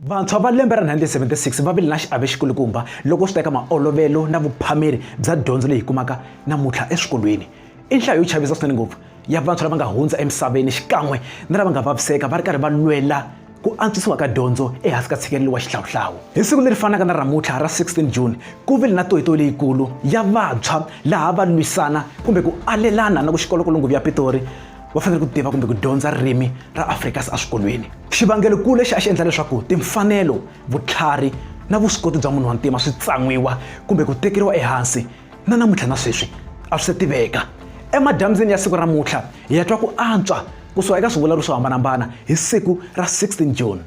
Vantshwa va lembe ra 1976 va vile na xiave xikulukumba loko swi ta eka maolovelo na vuphameri bya dyondzo leyi hi kumaka namuntlha eswikolweni. I nhlayo yo chavisa swinene ngopfu ya vantshwa lava nga hundza emisaveni xikan'we na lava nga vaviseka va ri karhi va lwela ku antswisiwa ka dyondzo ehansi ka tshikelelo wa xihlawuhlawu. Hi siku leri fanaka na ramutlha ra 16 June, ku vile na toyitoyi leyikulu ya vantshwa laha va lwisana kumbe ku alelana na ku xikolo-kolongovi ya Pitori, va fanele ku tiva kumbe ku dyondza ririmi ra afrikaans eswikolweni xivangelokulu lexi a xi endla leswaku timfanelo vutlhari na vuswikoti bya munhu wa ntima swi tsan'wiwa kumbe ku tekeriwa ehansi na namuntlha na sweswi a swi se tiveka emadyambyini ya siku ra mutlha hi ya twa ku antswa kusuka eka swivulavuri swo hambanahambana hi siku ra 16 june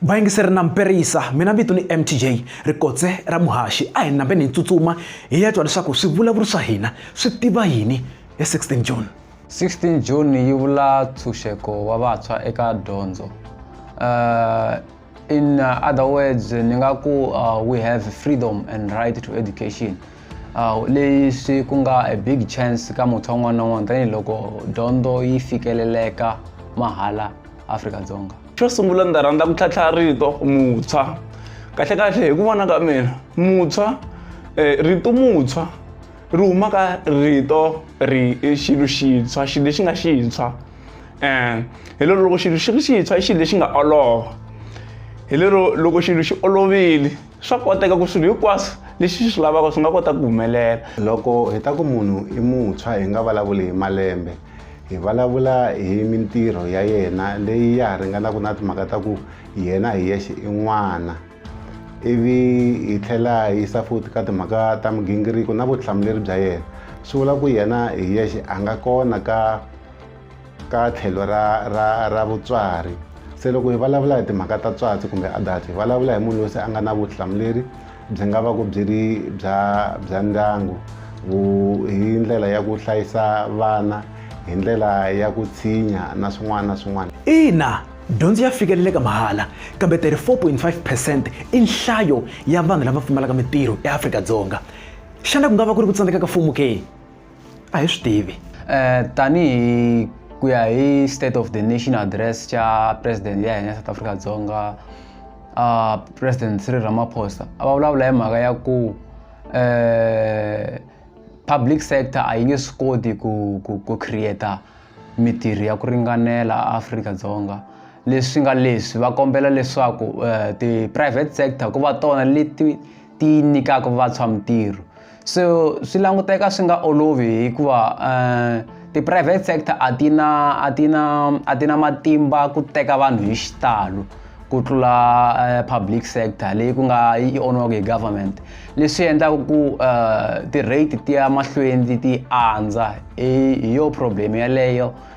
vayingiseri na mperisa mina vito ni mtj rikotse ra muhaxi a hi nambeni hi tsutsuma hi ya twa leswaku swivulavuri swa hina swi tiva yini hi 16 june 16 june yi vula ntshunxeko wa vantshwa eka dyondzo uh, in uh, other words ni nga ku uh, we have freedom and right to education uh, leyi swi ku nga a big chance ka mutshwa un'wana na un'wana tanihiloko dyondzo yi fikeleleka mahala afrika dzonga xo sungula ndzi rhandza ku tlhatlha rito mutshwa kahlekahle hi ku vona ka mina mutshwa um rito mutshwa ri huma ka rito ri xilo xintshwa xilo lexi nga xintshwa um hi lero loko xilo xi ri xintshwa i xilo lexi nga olova hi lero loko xilo xi olovile swa koteka ku swilo hinkwaswo leswi xi swi lavaka swi nga kota ku humelela loko hi ta ku munhu i mutshwa hi nga vulavuli hi malembe hi vulavula hi mintirho ya yena leyi ya ha ringanaka na timhaka ta ku yena hi yexe i n'wana ivi hi tlhela hi yisa futhi ka timhaka ta migingiriko na vutihlamuleri bya yena swi vula ku yena hi yexe a nga kona ka ka tlhelo ra ra ra vutswari se loko hi vulavula hi timhaka ta tswatsi kumbe adult hi vulavula hi munhu loyi se a nga na vutihlamuleri byi nga va ku byi ri bya bya ndyangu hi ndlela ya ku hlayisa vana hi ndlela ya ku tshinya na swin'wana na swin'wana ina dyondzo ya fikeleleka mahala kambe 34.5 percent i nhlayo ya vanhu lava pfumalaka mitirho eafrika-dzonga xana ku nga va ku ri ku tsandzeka ka mfumo ke a hi swi tivi um tanihi ku ya hi state of the nation address xa president ya hina south africa dzonga uh, president sri ramaphosa a va vulavula hi mhaka ya ku um public sector a yi nge swi koti ku ku ku creata mitirho ya ku ringanela afrika dzonga leswi nga leswi va kombela leswaku um ti-private sector ku va tona leti ti nyikaka vantshwa mintirho so swi languteka swi nga olovi hikuva um ti-private sector a ti na a ti na a ti na matimba ku teka vanhu hi xitalo ku tlula eh, public sector leyi ku nga yi onwaka hi government leswi endlaka ku eh, ti-rate ti ya mahlweni ti andza hi yo problem yaleyo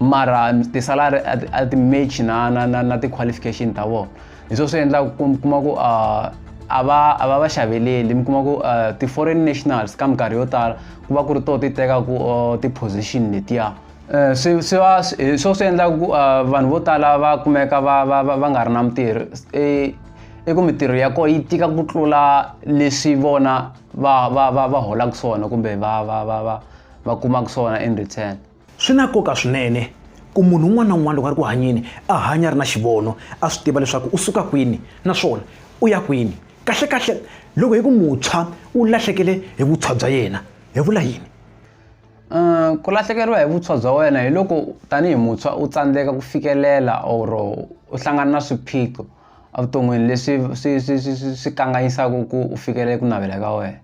mara tisalari a ti match na na na na ti-qualification ta vona hi swo swi endlaka ku kuma ku uh, a va a va va xaveleli mi kuma ku uh, ti-foreign nationals ka minkarhi yo tala ku va ku ri to ti tekaku uh, ti-position letiya uh, swi swi va hi swo swi endlaka ku uh, vanhu vo tala va kumeka va va va nga ri na mintirho e, i ku mintirho ya kona yi tika ku tlula leswi vona va va va va holaka swona kumbe va va va va va kumaka swona in return Swi na nkoka swinene ku munhu un'wana na un'wana loko a ri ku hanyeni a hanya a ri na xivono, a swi tiva leswaku u suka kwini naswona u ya kwini. Kahlekahle loko hi ku muntshwa u lahlekele hi vuntshwa bya yena, hi vula yini? Ku lahlekeriwa hi vuntshwa bya wena hi loko tanihi muntshwa u tsandzeka ku fikelela or u hlangana na swiphiqo evuton'wini leswi swi swi swi swi swi kanganyisaka ku u fikelela ku navela ka wena.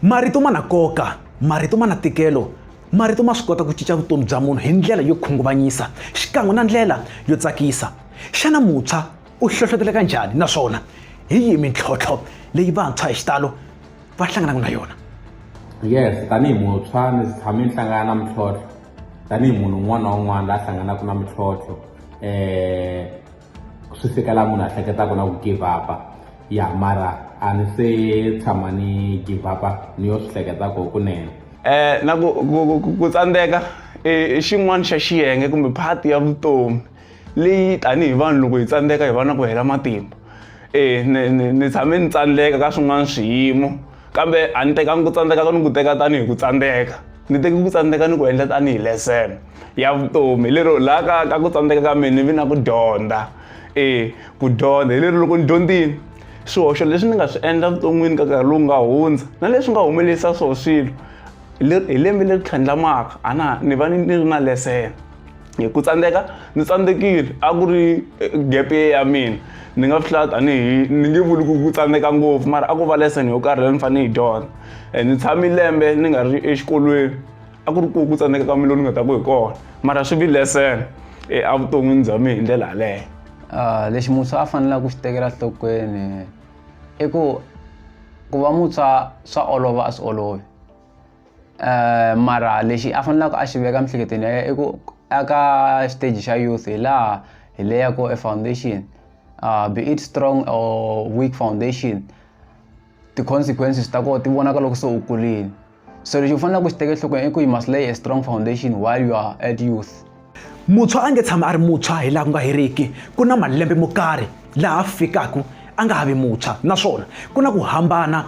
marito ma na koka marito ma na tikelo marito ma swi kota ku cinca vutomi bya munhu hi ndlela yo khunguvanyisa xikan'we na ndlela yo tsakisa xana muntshwa u hlohloteleka njhani naswona hi yihi mintlhontlho leyi vantshwa hi xitalo va hlanganaka na yona yes tanihi muntshwa ndzi tshame ni hlangana na mintlhontlho tanihi munhu un'wana na un'wana la hlanganaka na mintlhontlho eh swi fika la munhu a hleketaka na ku give up ya mara a ni se tshama ni give up ni yo swi hleketaka kunene eh na ku ku tsandzeka i xin'wana xa xiyenge kumbe part ya vutomi leyi tanihi vanhu loko hi tsandzeka hi va na ku hela matimba e ni ni ni tshame ni tsandzeka ka swin'wana swiyimo kambe a ni tekangi ku tsandzeka ka ni ku teka tanihi ku tsandzeka ni teke ku tsandzeka ni ku endla tanihi lesson ya vutomi hi lero laha ka ka ku tsandzeka ka mina ni vi na ku dyondza e ku dyondza hi lero loko ni dyondzini swihoxo leswi ni nga swi endla vuton'wini ka nkarhi lowu nga hundza na leswi nga humelerisa swo swilo hi lembe leri tlhandlamaka a na ni va ni ni ri na lesson hi ku tsandzeka ni tsandzekile a ku ri eh, gap ye ya mina ni nga swi hlaya tanihi ni nge vuli ku ku tsandzeka ngopfu mara a ku va lesson yo karhi leyi ni fanele yi dyondza eh, ni tshami lembe ni nga ri exikolweni a ku ri ku ku tsandzeka ka mina lowu ni nga ta ku hi kona mara swi vi lesson eh, evuton'wini bya mina hi ndlela yaleyo ah, lexi muntshwa a fanelaka ku xi tekela nhlokweni i ku ku va muntshwa swa olova a swi olovi um mara lexi a fanelaka a xi veka emiehleketweni ya yena i ku aka xiteji xa youth hi laha hi leyaku e foundation um be it strong or weak foundation ti-consequences ta kona ti vonaka loko se u kulini so lexi u faneleke u xi teke enhlokweni i ku you must lay a strong foundation while you are at youth. Muntshwa a nge tshami a ri muntshwa hi laha ku nga heriki. Ku na malembe mo karhi laha fikaka a nga ha vi muntshwa, naswona ku na ku hambana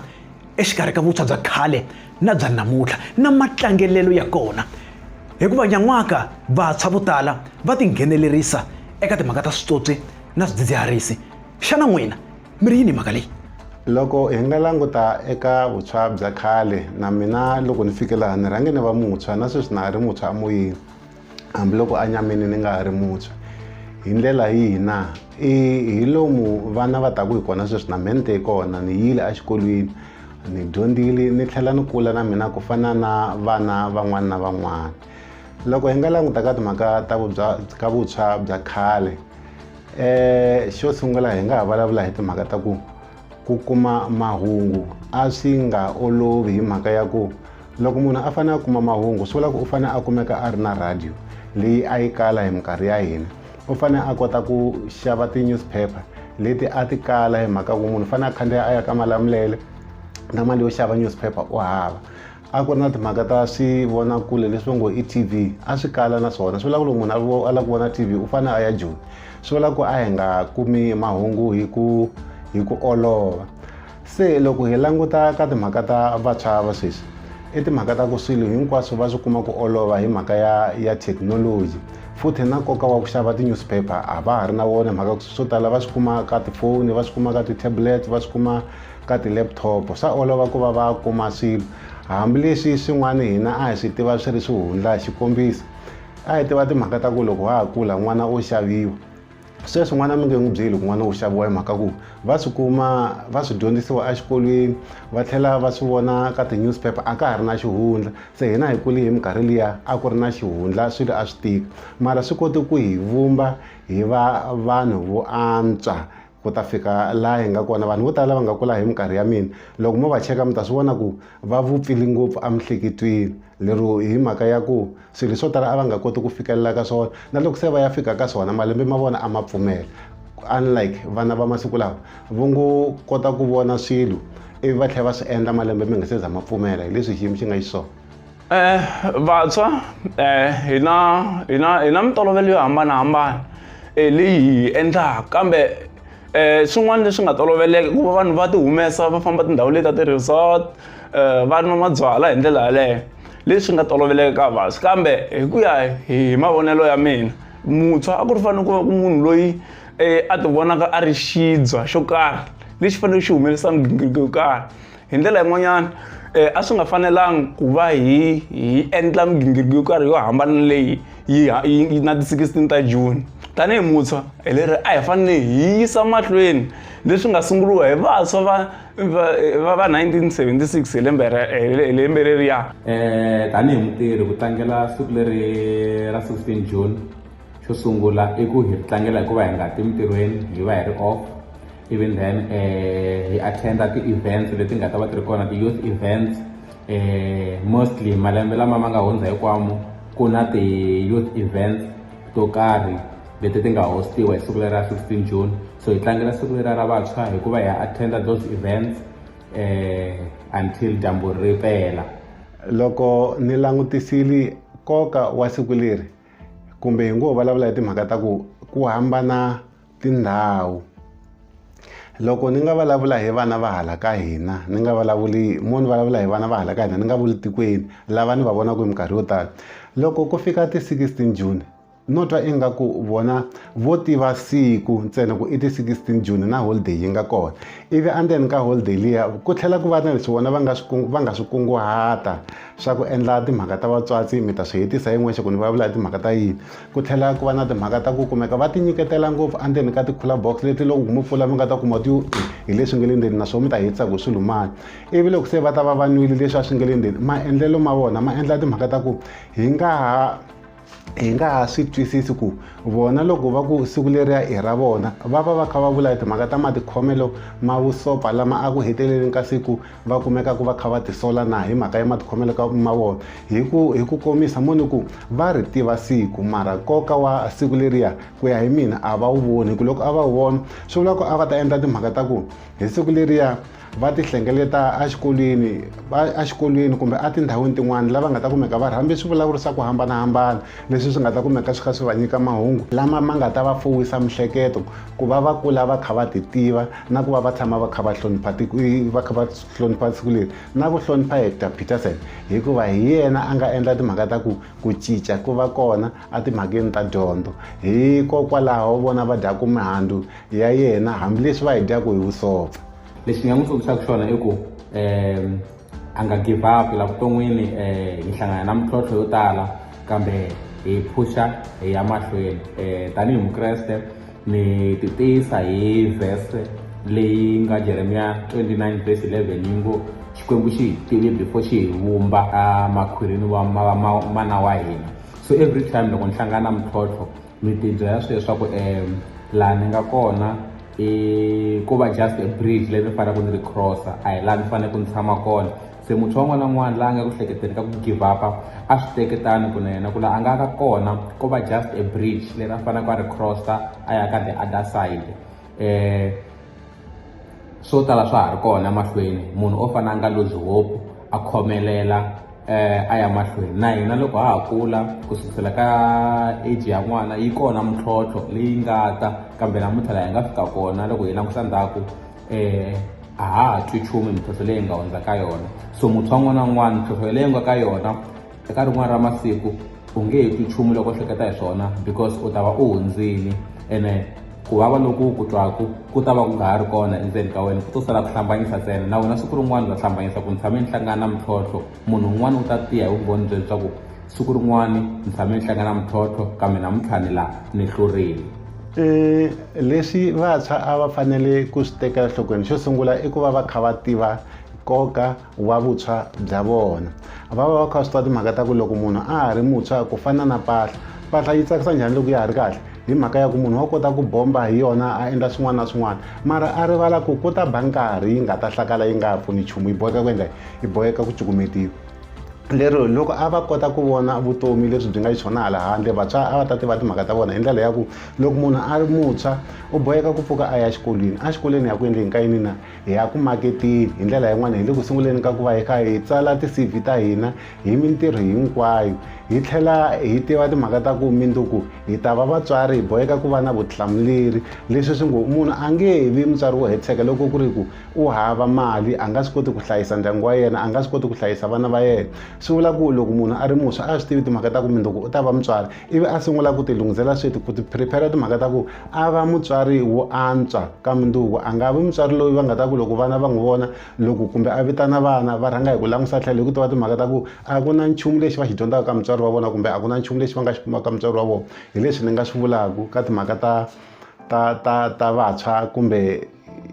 exikarhi ka vuntshwa bya khale na bya namuntlha na matlangelelo ya kona. Hikuva nyan'waka vantshwa vo tala va tinghenelerisa eka timhaka ta switswotswi na swidzidziharisi. Xana n'wina mi ri yini hi mhaka leyi? Loko hi nga languta eka vuntshwa bya khale, na mina loko ni fike laha ni rhange ni va muntshwa, na sweswi na ha ri muntshwa emoyeni. hambiloko enyameni ni nga ha ri muntshwa. Hi ndlela yihi na? I hi lomu vana va taku hi kona sweswi na mina ni te hi kona ni yile exikolweni ni dyondzile ni tlhela ni kula na mina ku fana na vana van'wana na van'wana loko hi nga languta ka timhaka ta vubya ka vutshwa bya khale um xo sungula hi nga ha vulavula hi timhaka ta ku ku kuma mahungu a swi nga olovi hi mhaka ya ku loko munhu a fanele a kuma mahungu swi vula ku u fanele a kumeka a ri na radio leyi a yi kala hi minkarhi ya hina u fanele a kota ku xava ti-newspaper leti a ti kala hi mhaka ku munhu u fanele a khandziya a ya ka malamulele na mali yo xava newspaper u hava a ku ri na timhaka ta swivonakule leswi va ngo i tv a swi kala na swona swi vula ku loko munhu a lava ku vona tv u fanele a ya joni swi vula ku a hi nga kumi mahungu hi ku hi ku olova se loko hi languta ka timhaka ta vantshwa va sweswi i timhaka ta ku swilo hinkwaswo va swi kuma ku olova hi mhaka ya ya thekinoloji futhi na nkoka wa ku xava ti-newspaper a va ha ri na wona mhaka ku swo tala va swi kuma ka tifoni va swi kuma ka ti-tablet va swi kuma ka ti-laptop swa olova ku va va kuma swilo hambileswi swin'wana hina a hi swi tiva swi ri swihundla hi xikombiso a hi tiva timhaka ta ku loko ha ha kula n'wana o xaviwa sweswi n'wana mi nge n'wi byeli ku n'wana wu xaviwa hi mhaka ku va swi kuma va swi dyondzisiwa exikolweni va tlhela va swi vona ka ti-newspaper a ka ha ri na xihundla se hina hi kuli hi minkarhi liya a ku ri na xihundla swilo a swi tika mara swi kote ku hi vumba hi va vanhu vo antswa ku ta fika laha hi nga kona vanhu vo tala lava nga kula hi minkarhi ya mina loko mo va cheka mi ta swi vona ku va vupfile ngopfu emihleketweni lero hi mhaka ya ku swilo swo tala a va nga koti ku fikelela ka swona na loko se va ya fika ka swona malembe ma vona a ma pfumela unlike vana va masiku lawa vo ngo kota ku vona swilo ivi va tlhela va swi endla malembe mi nga se za ma pfumela hi leswi xiyimo xi nga xiswona Eh, vantshwa eh, hi na hi na hi na mintolovelo yo hambanahambana eh, leyi hi endlaka kambe eh, swin'wana leswi nga toloveleka ku va vanhu va ti humesa va famba tindhawu leti ta ti-resort eh, va nwa mabyala hi ndlela yaleyo leswi nga toloveleka ka vantshwa kambe hi ku ya hi mavonelo ya mina muntshwa a ku ri fanele ku va ku munhu loyi eh, a ti vonaka a ri xidzwa xo karhi lexi faneleke xi humelisa migingiriko yo karhi hi ndlela yin'wanyana um a swi nga fanelanga ku va hi hi endla migingiriko yo karhi yo hambana leyi yi yi na ti-sixteen ta june tanihi muntshwa hi leri a hi fanele hi yisa mahlweni leswi nga sunguriwa hi vantshwa va va va 1976 hi lembe hi lembe leriya um tanihi mutirhi ku tlangela siku leri ra 16 june xo sungula i ku hi tlangela hikuva hi nga ti mintirhweni hi va hi ri off even then eh, hi attenda ti-events leti nga ta va ti ri kona ti-youth events eh, mostly malembe lama ma nga hundza hikwamo ku na ti-youth events to karhi leti ti nga hostiwa hi siku leri ra 16 june so hi tlangela siku leri ra vantshwa hikuva hi attenda those events eh, until dyambu ri pela loko ni langutisile nkoka wa siku leri kumbe hi ngo vulavula hi timhaka ta ku ku hambana tindhawu loko ni nga vulavula hi vana va hala ka hina ni nga vulavuli mo ni vulavula hi vana va hala ka hina ni nga vuli tikweni lava ni va vonaka hi minkarhi yo tala loko ku fika ti 16 june no twa ingaku vona vo tiva siku ntsena ku i ti 16 june na holiday yi nga kona ivi endzeni ka holiday liya ku tlhela ku va na leswi vona va nga swi va nga swi kunguhata swa ku endla timhaka ta vatswatsi mi ta swi hetisa yin'wexe ku ni vulavula hi timhaka ta yini ku tlhela ku va na timhaka ta ku kumeka va ti nyiketela ngopfu endzeni ka ti-cooler box leti loko mi pfula mi nga ta kuma ti hi leswi nge le ndzeni naswona mi ta hetisa ku swi lumani ivi loko se va ta va va nwile leswi a swi nge le ndzeni maendlelo ma vona ma endla timhaka ta ku hi nga ha hi nga ha swi twisisi ku vona loko va ku siku leriya i ra vona va va va kha va vula hi timhaka ta matikhomelo ma vusopa lama a ku heteleleni ka siku va kumeka ku va kha va tisola na hi mhaka ya matikhomelo ka ma vona hi ku hi ku komisa mo ni ku va ri tiva siku mara nkoka wa siku leriya ku ya hi mina a va wu voni hi ku loko a va wu vona swi vula ku a va ta endla timhaka ta ku hi siku leriya va ti hlengeleta exikolweni exikolweni kumbe etindhawini tin'wana lava nga ta kumeka va rhambe swi vulavurisa ku hambanahambana leswi swi nga ta kumeka swi kha swi va nyika mahungu lama ma nga ta va fuwisa mihleketo ku va va kula va kha va ti tiva na ku va va tshama va kha va hlonipha va kha va hlonipha siku leri na ku hlonipha hector peterson hikuva hi yena a nga endla timhaka ta ku ku cinca ku va kona etimhakeni ta dyondzo hikokwalaho vona va dyaku mihandzu ya yena hambileswi va hi dyaku hi vusopfa lexi ni nga n'wi tsundzuxaka xona i ku um a nga give up la vuton'wini um hi hlangana na mintlhontlho yo tala kambe hi phusha hi ya mahlweni um tanihi mukreste ni ti tiyisa hi vhese leyi nga jeremiya 29 vhesi 11 yi ngo xikwembu xi hi tivi before xi hi vumba emakhwirini wa mana wa hina so every time loko ni hlangana na mintlhontlho mi tibyela swi leswaku um laha ni nga kona i ku va just a bridge leyi ni faneleke ni ri crossa a hi laha ni faneleke ni tshama kona se muntshwa un'wana na un'wana laha a nga ku hleketeni ka ku give up a swi teketani ku na yena ku laha a nga ka kona ko va just a bridge leri a faneleke a ri crossa a ya ka the other side. um swo tala swa ha ri kona mahlweni munhu o fana a nga lose hope a khomelela um a ya mahlweni na hina loko ha ha kula ku sukusela ka age ya n'wana yi kona mintlhontlho leyi nga ta kambe namuntlha laha hi nga fika kona loko hi langusa ndzhaku um a ha ha twi nchumu mintlhontlho leyi hi nga hundza ka yona so muntshwa n'wana na n'wana mintlhontlho leyi nga ka yona eka rin'wana ra masiku u nge he twi nchumu loko hleketa hi swona because u ta va u hundzini ene ku vava loku ku twaku ku ta va ku nga ha ri kona endzeni ka wena ku to sala ku hlambanyisa ntsena na wena siku rin'wana u ta hlambanyisa ku ni tshame ni hlangana na mintlhontlho munhu un'wana u ta tiya hi vumbhoni bye leswaku siku rin'wana ni tshame ni hlangana mintlhontlho kambe namuntlha ni laha ni hlurile um leswi vantshwa a va fanele ku swi tekela nhlokweni xo sungula i ku va va kha va tiva nkoka wa vutshwa bya vona va va va kha swi tiva timhaka ta ku loko munhu a ha ri mutshwa ku fana na mpahla mpahla yi tsakisa njhani loko ya ha ri kahle hi mhaka ya ku munhu wa kota ku bomba hi yona a endla swin'wana na swin'wana mara a rivala ku ku ta ba nkarhi yi nga ta hlakala yi nga pfuni nchumu yi boheka ku endla yi boheka ku cukumetiwa lero loko a va kota ku vona vutomi leswi byi nga xiswona hala handle vantshwa a va ta tiva timhaka ta vona hi ndlela ya ku loko munhu a ri mutshwa u boheka ku pfuka a ya exikolweni exikolweni ya ku endleni ka yini na hi ya ku maketeni hi ndlela yin'wana hi le ku sunguleni ka ku va hi kha hi tsala ti-cv ta hina hi mintirho hinkwayo hi tlhela hi tiva timhaka ta ku minduku hi ta va vatswari hi boheka ku va na vutihlamuleri leswi swi ngo munhu a nge he vi mutswari wo hetiseka loko ku ri ku u hava mali a nga swi koti ku hlayisa ndyangu wa yena a nga swi koti ku hlayisa vana va yena swi vula ku loko munhu a ri muntshwa a swi tivi timhaka ta ku minduku u ta va mutswari ivi a sungula ku tilunghisela switi ku ti prepare timhaka ta ku a va mutswari wo antswa ka munduku a nga vi mutswari loyi va nga ta ku loko vana va n'wi vona loko kumbe a vitana vana va rhanga hi ku langusa tlhelo hi ku tiva timhaka ta ku a ku na nchumu lexi va xi dyondzaka ka mutswari wa vona kumbe a ku na nchumu lexi va nga xi kumaka ka mutswari wa vona hi leswi ni nga swi vulaka ka timhaka ta ta ta ta vantshwa kumbe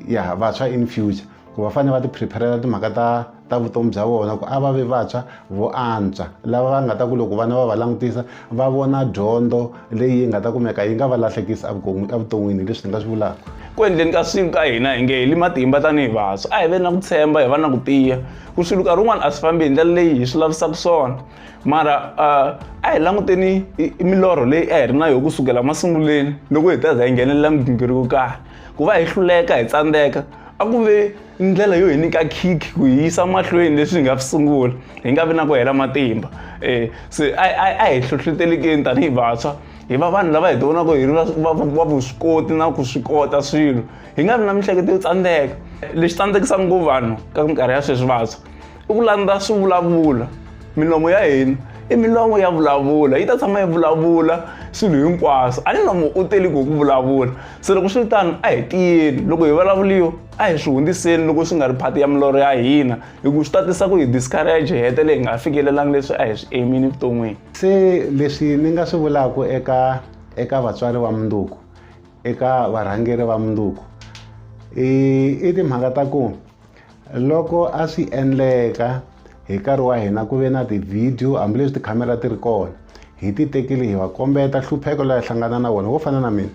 ya vantshwa in future ku va fanele va ti prepare-ela timhaka ta ta vutomi bya vona ku a va ve vantshwa vo antswa lava va nga ta ku loko vana va va langutisa va vona dyondzo leyi nga ta kumeka yi nga va lahlekisi evuton'wini hi leswi ni nga swi vulaka ku endleni ka siku ka hina hi nge hi li matimba tanihi vantshwa a hi ve na ku tshemba hi va na ku tiya ku swilo nkarhi wun'wana a swi fambi hi ndlela leyi hi swi lavisaka swona mara a hi languteni milorho leyi a hi ri na yona ku sukela masunguleni loko hi ta za hi nghenelela migingiriko karhi Ku va hi hluleka hi tsandzeka a ku ve ndlela yo hi nyika khikhi ku hi yisa mahlweni leswi hi nga swi sungula hi nga vi na ku hela matimba um se a hi hlohletelekeni tanihi vantshwa hi va vanhu lava hi ti vonaka hi ri va vuswikoti na ku swi kota swilo hi nga vi na miehleketo yo tsandzeka lexi tsandzekisaka ngopfu vanhu ka minkarhi ya sweswi vantshwa i ku landza swivulavulo milomo ya hina i milomo ya vulavula yi ta tshama yi vulavula swilo hinkwaswo a ni nomo u teli ku ku vulavula se loko swi ri tano a hi tiyeni loko hi vulavuriwa a hi swi hundziseni loko swi nga ri phati ya milorho ya hina hi ku swi tatisa ku hi discourage hi hetele hi nga fikelelangi leswi a hi swi emini evuton'wini se leswi ni nga swi vulaka eka eka vatswari va munduku eka varhangeri va munduku i timhaka ta ku Loko a swi endleka hi nkarhi wa hina ku ve na tivhidiyo hambileswi tikhamera ti ri kona hi ti tekile hi va kombeta hlupheko la hi hlangana na wona wo fana na mina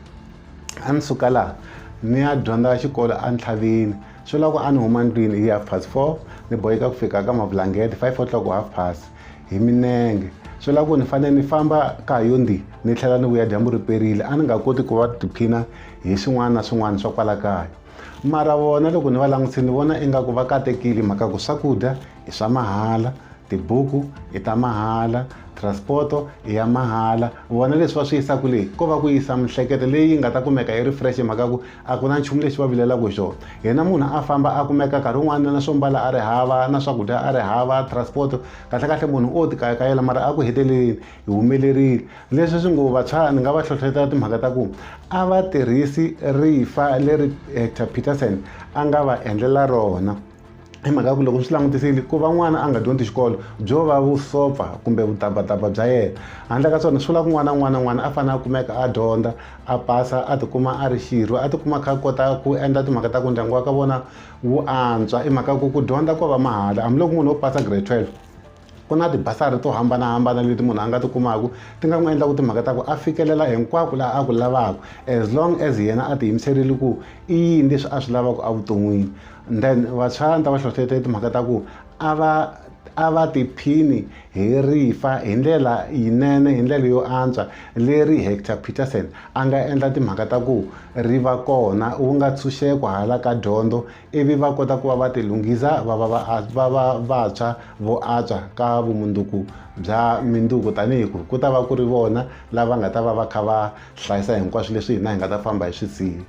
a ni suka laha ni ya dyondza xikolo entlhavini swi lava ku a ni huma ndlwini hi half past four ni boheka ku fika ka mavulangete five o'clock ku half past hi minenge swi lava ku ni fanele ni famba ka ha yo ndi ni tlhela ni vuya dyambu ri perile a ni nga koti ku va tiphina hi swin'wana na swin'wana swa kwala kaya mara vona loko ni va langutise ni vona ingaku va katekile mhaka ku swakudya i swa mahala tibuku i ta mahala transporto i ya mahala vona leswi va swi yisaka leyi ko va ku yisa mihleketo leyi nga ta kumeka yi refresh mhaka ku a ku na nchumu lexi va vilelaka hi xona yena munhu a famba a kumeka nkarhi wun'wana na swo mbala a ri hava na swakudya a ri hava transporto kahlekahle munhu o tikayakayela mara a ku heteleleni hi humelerile leswi swi ngo vantshwa ni nga va hlohlotela timhaka ta ku a va tirhisi rifa leri hector peterson a nga va endlela rona hi mhaka ku loko swi langutisile ku va n'wana a nga dyondzi xikolo byo va vusopfa kumbe vutabvataba bya yena handle ka swona swi vula ku n'wana un'wana un'wana a fanele a kumeka a dyondza a pasa a tikuma a ri xirho a tikuma kha kota ku endla timhaka ta ku ndyangu wa ka vona wu antswa i mhaka ku ku dyondza ko va mahala hambiloko munhu wo pasa grade 12 ku na tibasari to hambanahambana leti munhu a nga ti kumaka ti nga n'wi endla ku timhaka ta ku a fikelela hinkwako laha a ku lavaka as long as yena a tiyimiserile ku i yini leswi a swi lavaka evuton'wini then vantshwa ni ta va hlohletela timhaka ta ku a va a va tiphini hi rifa hi ndlela yinene hi ndlela yo antswa leri hector peterson a nga endla timhaka ta ku ri va kona wu nga ntshunxeko hala ka dyondzo ivi va kota ku va va tilunghisa va va va va vantshwa vo antswa ka vumundzuku bya mindzuku tanihi ku ku ta va ku ri vona lava nga ta va va kha va hlayisa hinkwaswo leswi hina hi nga ta famba hi swi siya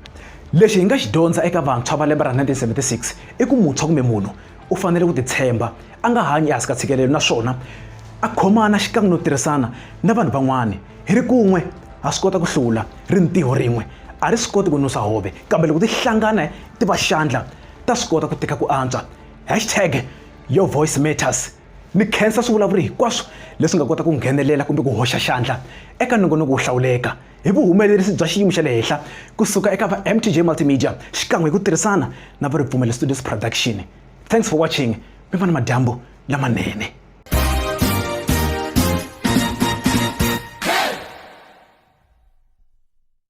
lexi hi nga xi dyondza eka vantshwa va lembe ra 1976 i ku muntshwa kumbe munhu u fanele ku titshemba a nga hanyi ehansi ka tshikelelo naswona a khomana xikan'we no tirhisana na vanhu van'wana hi ri kun'we ha swi kota ku hlula ri ntiho rin'we a ri swi koti ku nusa hove kambe loko ti hlangana ti va xandla ta swi kota ku teka ku antswa. Hashtag Your Voice Matters ni khensa swivulavuri hinkwaswo leswi nga kota ku nghenelela kumbe ku hoxa xandla eka nongonoko wo hlawuleka hi vuhumelerisi bya xiyimo xa le henhla kusuka eka va mtj multimedia xikan'we hi ku tirhisana na va ripfumelo studios production thanks for watching mi va na madyambu lamanene